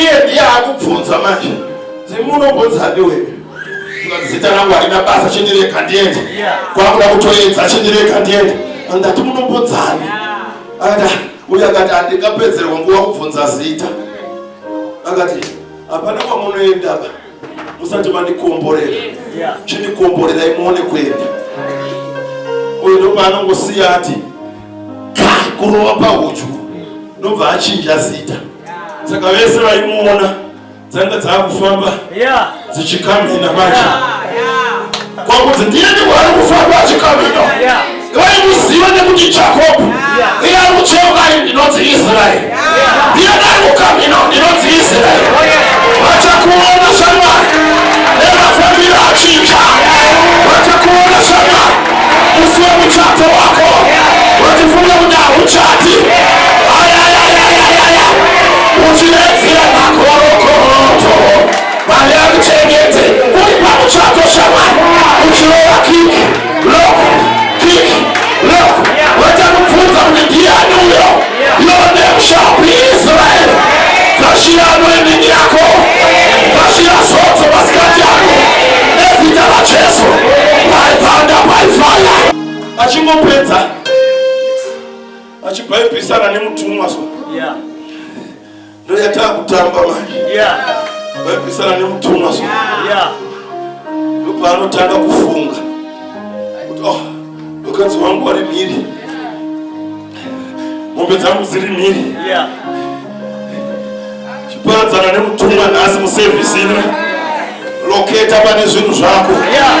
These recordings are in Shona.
iye ndiye akubvunza manje zimunobvunzadi wewe zita rangu harina basa chindireka ndiende kwakuda kutoedza chindireka ndiende andati munobvunzani akati ah, uye akati handingapedzerwa nguva kubvunza zita akati hapana kwamunoendaba musati mandikomborera chindikomborerai muone kuenda uyo ndopaanongosiya ati kurova pahudyu ndobva achinja zita saka vese vaimuona dzanga dzaakufamba dzichikamhina manje kwakuti ndiye ndiwari kufamba achikamhina Vaikuziva nekuti Jakobho, iye ari kucheuka ari ndinonzi Israeri, iye ndari kukamhina ndinonzi Israeri. Vachakuona shamwari nemafambiro achinja, vachakuona shamwari musi wemuchato wako, vachifunga kuti hauchati ayayayayaya uchiredzera makorokoroto. Mwari akuchengete uri pamuchato shamwari uchirova kiki loko kiki loko woita kubvunza kuti ndiyani uyo your name shall be israel kashira anoendini yako kashira zodzo masikati ako nezita rajesu by thunder by fire achingopedza achibhaibhisana nemutumwa so yeah. ndoyatava kutamba manje vaibvisana nemutumwa so ndopaanotanga kufunga kuti oh mukadzi wangu wari mhiri mombe dzangu dziri mhiri chiparadzana nemutumwa nhasi musevhisi ino loketa pane zvinhu zvako yeah.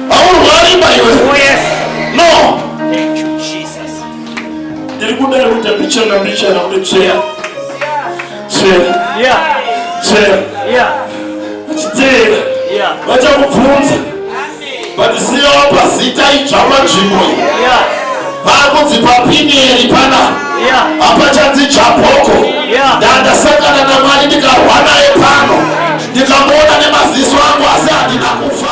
Haurwari imba iwe. Oh yes. No. Thank you Jesus. Ndiri kuda kuti mbichana mbichana kuti tsveya. Tsveya. Yeah. Tsveya. Yeah. Chitera. Yeah. Vachakubvunza. But siya wapa zita idzva panzvimbo iyi. Yeah. Vakunzi papiniyeri pana. Yeah. Hapachanzi dzvabhoko. Yeah. Ndandasangana naMwari ndikarwa naye pano. Ndikamuona nemaziso angu asi handina kufa.